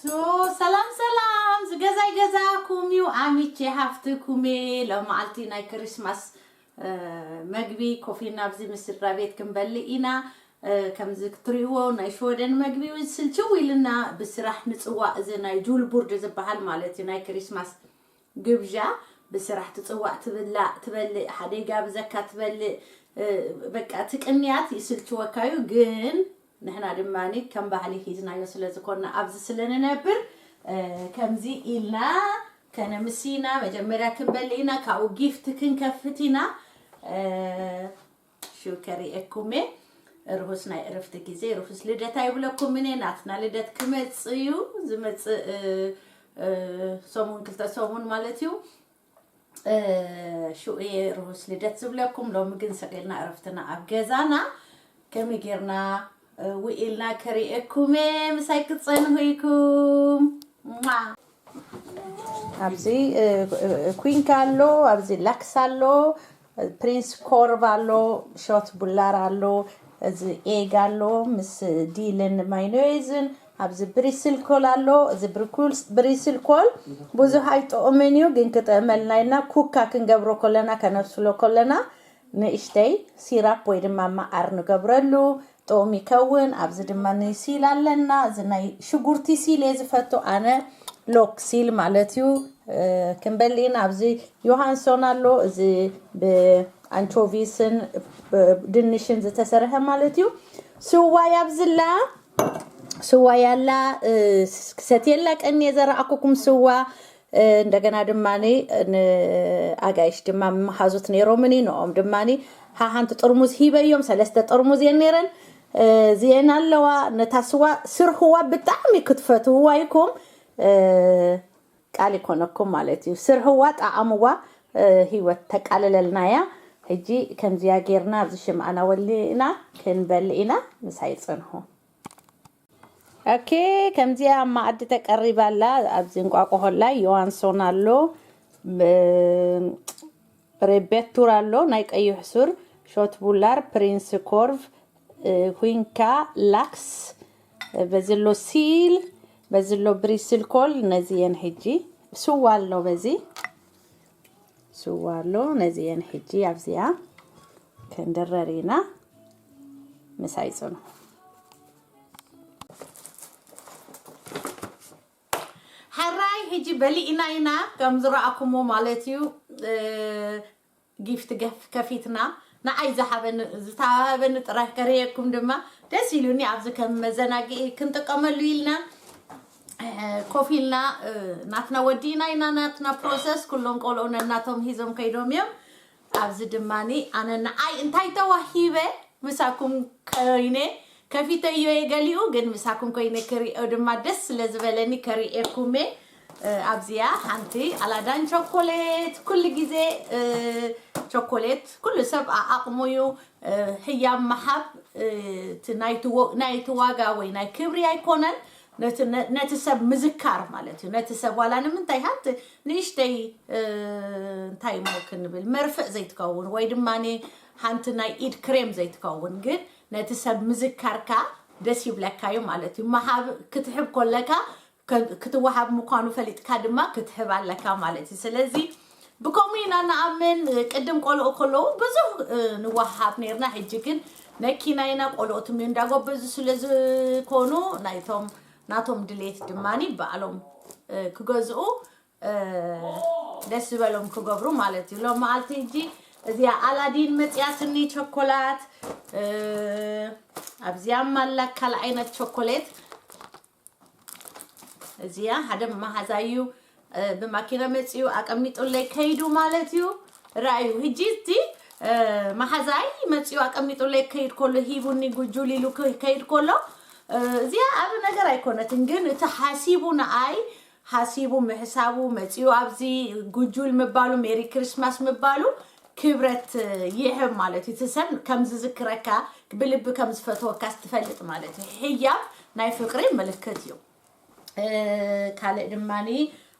ሶ ሰላም ሰላም ዝገዛይ ገዛኩም ዩ ኣሚቼ ሃፍትኩሜ ሎማዓልቲ ናይ ክሪስማስ መግቢ ኮፍ ኢልና ኣብዚ ምስ ስድራ ቤት ክንበልእ ኢና ከምዚ ክትሪእዎ ናይ ሽወደን መግቢ እውን ስልችው ኢልና ብስራሕ ምፅዋእ እዚ ናይ ጁልቡርድ ዝበሃል ማለት እዩ ናይ ክሪስማስ ግብዣ ብስራሕ ትፅዋእ ትብላእ ትበልእ ሓደይ ጋብዘካ ትበልእ በቃ እቲ ቅንያት ይስልችወካ እዩ ግን ንሕና ድማ ከም ባህሊ ሒዝናዮ ስለ ዝኮና ኣብዚ ስለ ንነብር ከምዚ ኢልና ከነምሲ ኢና መጀመርያ ክንበልእ ኢና ካብኡ ጊፍት ክንከፍት ኢና ሽው ከሪኤኩም እየ ርሁስ ናይ እረፍቲ ግዜ ርሁስ ልደት ኣይብለኩምን እየ ናትና ልደት ክመፅ እዩ ዝመፅእ ሰሙን ክልተ ሰሙን ማለት እዩ ሽኡየ ርሁስ ልደት ዝብለኩም ሎሚ ግን ሰቂልና ዕረፍትና ኣብ ገዛና ከመይ ጌርና ውኢልና ከርእየኩም እየ ምሳይ ክትፀንሁ ኢኩም ማ ኣብዚ እ- እ- ኩንካ ኣሎ ኣብዚ ላክስ ኣሎ ፕሪንስ ኮርቭ ኣሎ ሾት ቡላር ኣሎ እዚ ኤግ ኣሎ ምስ ዲልን ማይኖይዝን ኣብዚ ብሪስል ኮል ኣሎ እዚ ብሪስል ኮል ብዙሕ ኣይጥዑምን እዩ ግን ክጥዕመልና ኢልና ኩካ ክንገብሮ ኮለና ከነብስሎ ኮለና ንእሽተይ ሲራፕ ወይ ድማ መዓር ንገብረሉ ጥኡም ይከውን ኣብዚ ድማ ሲል ኣለና እዚ ናይ ሽጉርቲ ሲል እየ ዝፈቱ ኣነ ሎክ ሲል ማለት እዩ ክንበሊ ኢና ኣብዚ ዮሃንሶን ኣሎ እዚ ብኣንቾቪስን ድንሽን ዝተሰርሐ ማለት እዩ ስዋይ ኣብዝላ ስዋይ ኣላ ክሰትየላ ቀኒየ ዘረኣኩኩም ስዋ እንደገና ድማ ንኣጋይሽ ድማ መሓዙት ነይሮምኒ ንኦም ድማ ሓሓንቲ ጥርሙዝ ሂበዮም ሰለስተ ጥርሙዝ እየን ነይረን እዚኤን ኣለዋ ነታ ስዋ ስርህዋ ብጣዕሚ ክትፈትውዋ ይኩም ቃል ይኮነኩም ማለት እዩ ስርሕዋ ጣዕምዋ ሂወት ተቃልለልና እያ ሕጂ ከምዚያ ጌርና ኣብዚ ሽምዓና ወሊእና ክንበል ኢና ምሳይ ፅንሑ ኦኬ ከምዚኣ ኣብ መኣዲ ተቀሪባ ኣላ ኣብዚ እንቋቁሖ ኣላ ዮሃንሶን ኣሎ ብ- ሬቤቱር ኣሎ ናይ ቀይሕ ሱር ሾት ቡላር ፕሪንስ ኮርቭ እ፣ ኩንካ ላክስ እ፣ በዚ ኣሎ ሲል በዚ ኣሎ ብሪስል ኮል ነዚ የን ሕጂ ስዋ ኣሎ በዚ ስዋ ኣሎ ነዚኤን ሕጂ ኣብዚኣ ክንድረር ኢና ምሳይ ጽኑ ሕራይ ሕጂ በሊእና ኢና ከም ዝረኣኩሞ ማለት እዩ ጊፍቲ ገፍ ከፊትና ንዓይ ዝሃበኒ ዝተሃበኒ ጥራይ ከርእየኩም ድማ ደስ ኢሉኒ ኣብዚ ከም መዘናግዒ ክንጥቀመሉ ኢልና ኮፍ ኢልና ናትና ወዲእና ኢና ናትና ፕሮሰስ ኩሎም ቆልዑ ነናቶም ሂዞም ከይዶም እዮም ኣብዚ ድማ ኣነ ንዓይ እንታይ ተዋሂበ ምሳኩም ኮይነ ከፊተዮ እየ ገሊኡ ግን ምሳኩም ኮይነ ክሪኦ ድማ ደስ ስለ ዝበለኒ ከሪኤኩም እየ ኣብዚያ ሓንቲ ኣላዳን ቸኮሌት ኩሉ ግዜ ቸኮሌት ኩሉ ሰብ ኣቕሙ እዩ ህያብ ምሓብ ናይቲ ዋጋ ወይ ናይ ክብሪ ኣይኮነን ነቲ ነ- ነቲ ሰብ ምዝካር ማለት እዩ ነቲ ሰብ ዋላ ንምንታይ ሃንቲ ንእሽተይ እ፣ እንታይ እሞ ክንብል መርፍእ ዘይትከውን ወይ ድማ ሃንቲ ናይ ኢድ ክሬም ዘይትከውን ግን ነቲ ሰብ ምዝካርካ ደስ ይብለካ እዩ ማለት እዩ መሃብ ክትሕብ ኮለካ ከ- ክትወሃብ ምኳኑ ፈሊጥካ ድማ ክትሕብ ኣለካ ማለት እዩ ስለዚ ብከምኡ ኢና ንኣምን ቅድም ቆልኦ ከለዉ ብዙህ ንወሃሃብ ነርና ሕጂ ግን መኪና ኢና ቆልኦ ትም እንዳጎበዙ ስለ ዝኾኑ ናይቶም ናቶም ድሌት ድማኒ ባዕሎም ክገዝኡ ደስ ዝበሎም ክገብሩ ማለት እዩ ሎም መዓልቲ እጂ እዚኣ ኣላዲን መፅያ ስኒ ቸኮላት ኣብዚያ ማላ ካል ዓይነት ቸኮሌት እዚኣ ሓደ መማሓዛ እዩ ብማኪና መፂኡ ኣቀሚጡለይ ከይዱ ማለት እዩ ራእዩ ህጂ እቲ መሓዛይ መፂኡ ኣቀሚጡለይ ከይድ ከሎ ሂቡኒ ጉጁል ኢሉ ከይድ ከሎ እዚኣ ኣብ ነገር ኣይኮነትን ግን እቲ ሓሲቡ ንኣይ ሃሲቡ ምሕሳቡ መጺኡ ኣብዚ ጉጁል ምባሉ ሜሪ ክሪስማስ ምባሉ ክብረት ይሕብ ማለት እዩ እቲ ሰብ ከም ዝዝክረካ ብልቢ ከም ዝፈትወካ ስትፈልጥ ማለት እዩ ሕያብ ናይ ፍቅሪ ምልክት እዩ እ፣ ካልእ ድማኒ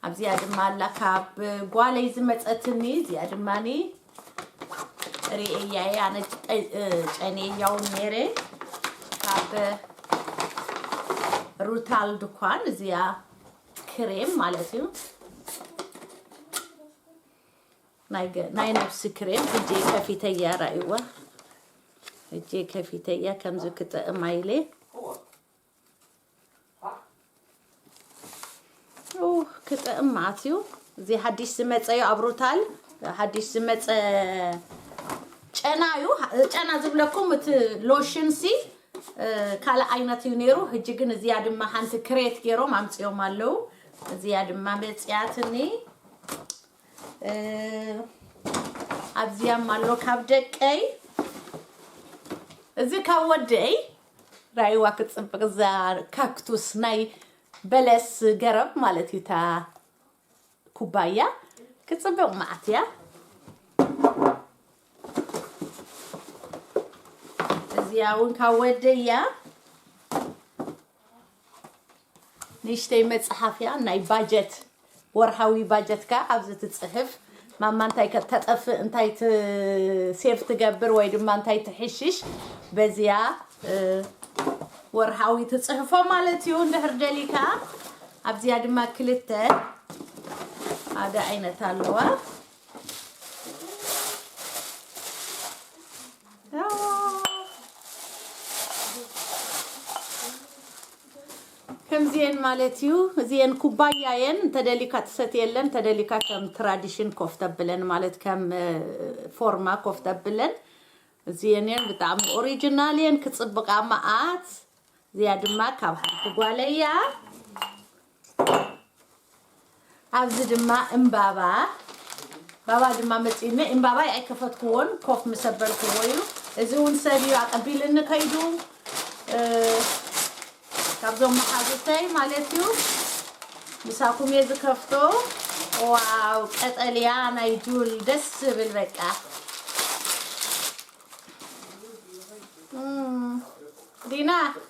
ኣብዚኣ ድማ ኣላ ካብ ጓለይ ዝመፀትኒ እዚኣ ድማኒ ሪኤያ እየ ኣነ ጨንየያውን ነይረ ካብ ሩታል ድኳን እዚኣ ክሬም ማለት እዩ ናይ ገ- ናይ ነብሲ ክሬም እጄ ከፊተያ ራእይዋ እጄ ከፊተያ ከምዚ ክጥዕማ ኢለ ክጥዕም መዓት እዩ እዚ ሓዲሽ ዝመፀ እዩ ኣብ ሩታል ሓዲሽ ዝመፀ ጨና እዩ ጨና ዝብለኩም እቲ ሎሽን ሲ ካልእ ዓይነት እዩ ነይሩ ህጂ ግን እዚያ ድማ ሓንቲ ክሬት ገይሮም ኣምፅኦም ኣለው እዚያ ድማ መፅያትኒ ኣብዚያም ኣሎ ካብ ደቀይ እዚ ካብ ወደይ ራይዋ ክትጽብቅ እዛ ካክቱስ ናይ በለስ ገረብ ማለት እዩ እታ ኩባያ ክትጽብቅ መዓት እያ እዚኣ እውን ካብ ወደያ ንእሽተይ መጽሓፍ እያ ናይ ባጀት ወርሃዊ ባጀትካ ኣብዚ ትጽሕፍ ማማ እንታይ ከተጠፍእ እንታይ ሴፍ ትገብር ወይ ድማ እንታይ ትሕሽሽ በዚያ ወርሃዊ ትጽሕፎ ማለት እዩ እንድሕር ደሊካ ኣብዚያ ድማ ክልተ ሓደ ዓይነት ኣለዋ ከምዚኤን ማለት እዩ እዚኤን ኩባያ የን እንተደሊካ ትሰትየለን እንተደሊካ ከም ትራዲሽን ኮፍ ተብለን ማለት ከም እ፣ ፎርማ ኮፍ ተብለን እዚኤን የን ብጣዕሚ ኦሪጂናል የን ክፅብቃ መዓት እዚኣ ድማ ካብ ሓንቲ ጓለያ ኣብዚ ድማ እምባባ ባባ ድማ መፂኒ እምባባይ ኣይከፈትክዎን ኮፍ ምሰበልክዎ እዩ እዚ እውን ሰብ እዩ ኣቀቢልኒ ከይዱ ካብዞም መሓዙተይ ማለት እዩ ምሳኩም እየ ዝከፍቶ ዋው ቀጠልያ ናይ ጁል ደስ ዝብል በቃ ዲና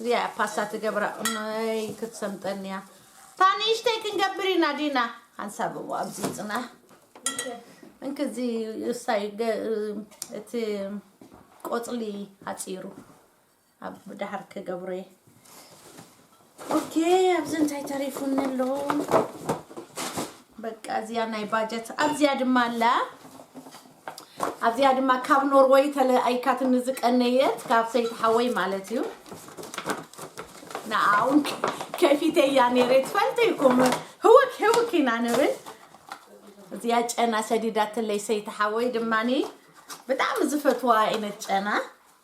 እዚኣ ፓስታ ትገብራ እኖይ ክትሰምጠኒ እያ እታ ንእሽተይ ክንገብር ኢና ዲና ሓንሳብዎ ኣብዚ ፅና እንክዚ እሳይ ገ- እቲ ቆፅሊ ኣፂሩ ኣብ ዳሕር ክገብሮ እየ ኦኬ ኣብዚ እንታይ ተሪፉኒ ኣሎ በቃ እዚያ ናይ ባጀት ኣብዚያ ድማ ኣላ ኣብዚያ ድማ ካብ ኖርወይ ተለኣይካትኒ ዝቀነየት ካብ ሰይቲ ሓወይ ማለት እዩ ንኣውን ከፊተ እያ ነይረ ትፈልጡ ይኩም ህውክ ህውክ ኢና ንብል እዚያ ጨና ሰዲዳትለይ ሰይቲ ሓወይ ድማኒ ብጣዕሚ ዝፈትዋ ዓይነት ጨና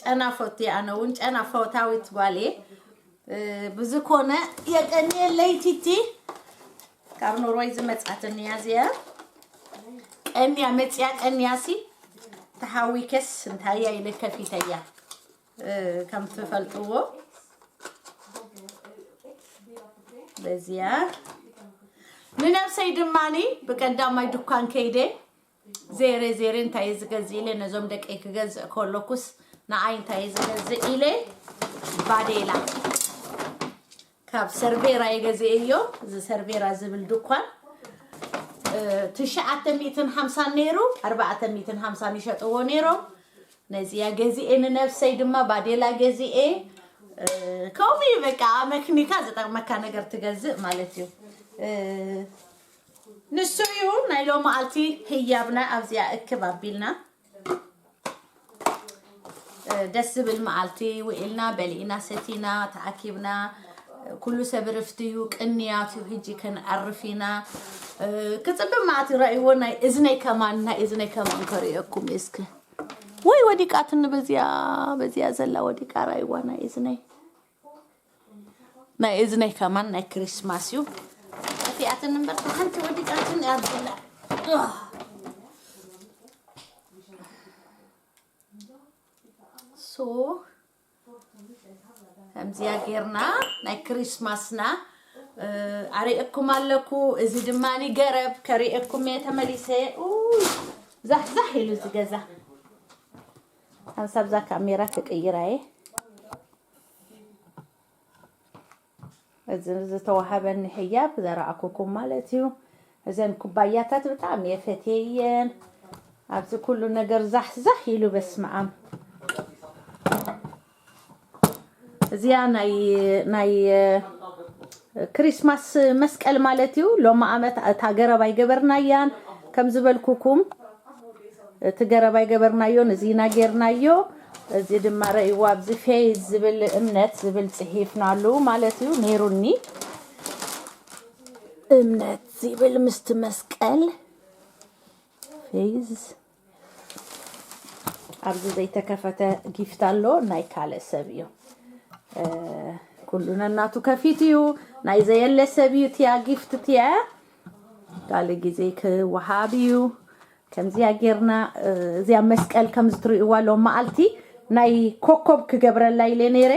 ጨና ፎቲ ኣነ እውን ጨና ፈታዊት ጓል እየ ብዝኮነ የቀኒየለይ ቲቲ ካብ ኖርወይ ዝመፅኣትኒ እያ እዚኣ ቀኒያ መፅያ ቀኒያ ሲ ተሃዊከስ እንታይ እያ ኢለ ከፊተያ ከም ትፈልጥዎ በዚያ ንነብሰይ ድማኒ ብቀዳማይ ድኳን ከይደ ዜሬ ዜሬ እንታይ እዩ ዝገዝእ ኢለ ነዞም ደቀይ ክገዝእ ከለኩስ ንኣይ እንታይ እዩ ዝገዝእ ኢለ ባዴላ ካብ ሰርቬራ የገዝእዮ እዚ ሰርቬራ ዝብል ድኳን ትሽዓተ ሚእትን ሓምሳን ነይሩ ኣርባዕተ ሚእትን ሓምሳን ይሸጥዎ ነይሮም ነዚያ ገዝኤ ንነብሰይ ድማ ባዴላ ገዝኤ ከምኡ እዩ በቃ መክኒካ ዝጠቅመካ ነገር ትገዝእ ማለት እዩ ንሱ እዩ ናይ ሎማዓልቲ ህያብና ኣብዚኣ እክብ ኣቢልና ደስ ዝብል መዓልቲ ውዒልና በሊእና ሰቲና ተኣኪብና ኩሉ ሰብ ርፍቲ እዩ ቅንያት እዩ ህጂ ከንዓርፍ ኢና ክፅብብ መዓት ይረእይዎ ናይ እዝነይ ከማን ናይ እዝነይ ከማን ከርእየኩም እስክ ወይ ወዲቃትኒ በዚያ በዚያ ዘላ ወዲቃ ራይዋ ናይ እዝነይ ናይ እዝነይ ከማን ናይ ክሪስማስ እዩ እቲኣትን እምበር ሓንቲ ወዲቃትን ኣብላ ሶ ከምዚያ ጌርና ናይ ክሪስማስና ኣርእየኩም ኣለኩ እዚ ድማ ገረብ ከርእየኩም እየ ተመሊሰ ዛሕዛሕ ኢሉ ዝገዛ ሓንሳብ እዛ ካሜራ ክቅይራ እየ እዚ ዝተዋሃበኒ ሕያብ ዘረኣኩኩም ማለት እዩ እዘን ኩባያታት ብጣዕሚ እየ ፈትየየን ኣብዚ ኩሉ ነገር ዛሕዛሕ ኢሉ በስመኣም እዚኣ ናይ ናይ ክሪስማስ መስቀል ማለት እዩ ሎሚ ኣመት እታ ገረብ ኣይገበርናያን ከም ዝበልኩኩም እቲ ገረብ ኣይገበርናዮን እዚ ኢና ጌርናዮ እዚ ድማ ረእይዋ ኣብዚ ፌዝ ዝብል እምነት ዝብል ጽሒፍናሉ ማለት እዩ ነይሩኒ እምነት ዝብል ምስቲ መስቀል ፌዝ ኣብዚ ዘይተከፈተ ጊፍት ኣሎ ናይ ካልእ ሰብ እዩ ኩሉ ነናቱ ከፊት እዩ ናይ ዘየለ ሰብ እዩ ትያ ጊፍት ትያ ካልእ ግዜ ክወሃብ እዩ ከምዚያ ጌርና እ፣ እዚያ መስቀል ከም ዝትርእይዋ ሎ መዓልቲ ናይ ኮኮብ ክገብረላ ኢለ ነይረ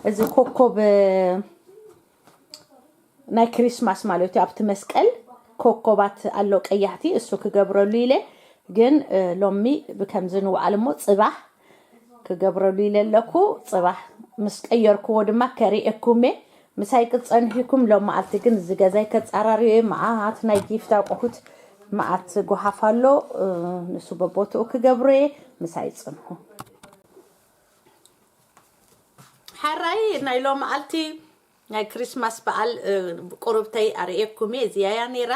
እዚ ኮኮብ እ፣ ናይ ክሪስማስ ማለት እዩ ኣብቲ መስቀል ኮኮባት ኣሎ ቀያሕቲ እሱ ክገብረሉ ኢለ ግን ሎሚ ብከምዚ ንውዓል እሞ ፅባሕ ክገብረሉ ኢለ ኣለኩ ፅባሕ ምስ ቀየርክዎ ድማ ከሪኤኩም እየ ምሳይ ክፀንሒኩም ሎም መዓልቲ ግን እዚ ገዛይ ከፃራርዮ እየ መዓት ናይ ጊፍት ኣቁሑት መዓት ጎሓፍ ኣሎ ንሱ በቦትኡ ክገብሮ እየ ምሳይ ፅንሑ ሓራይ ናይ ሎምኣልቲ ናይ ክሪስማስ በዓል ቁርብተይ ኣርእየኩም እየ እዚኣ እያ ነይራ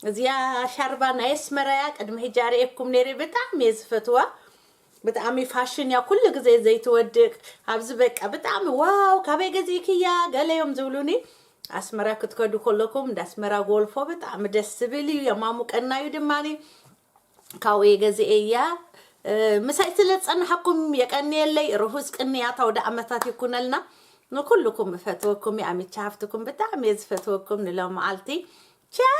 እዚኣ ሻርባ ናይ ኣስመራ እያ ቅድሚ ሕጂ ኣርእየኩም ነይረ ብጣዕሚ እየ ዝፈትዋ ብጣዕሚ ፋሽን እያ ኩሉ ግዜ ዘይትወድቅ ኣብዚ በቃ ብጣዕሚ ዋው ካበይ ገዚእክያ ገለ እዮም ዝብሉኒ ኣስመራ ክትከዱ ከለኩም እንዳ ኣስመራ ጎልፎ ብጣዕሚ ደስ ዝብል እዩ የማሙቀና እዩ ድማኒ ካብኡ እየ ገዚኤያ ምሳይ ስለ ዝጸናሓኩም የቀንየለይ ርሁስ ቅንያት ኣውደኣመታት ይኩነልና ንኩልኩም እፈትወኩም እየ ኣሚቻ ሃፍትኩም ብጣዕሚ እየ ዝፈትወኩም ንሎመዓልቲ ቻው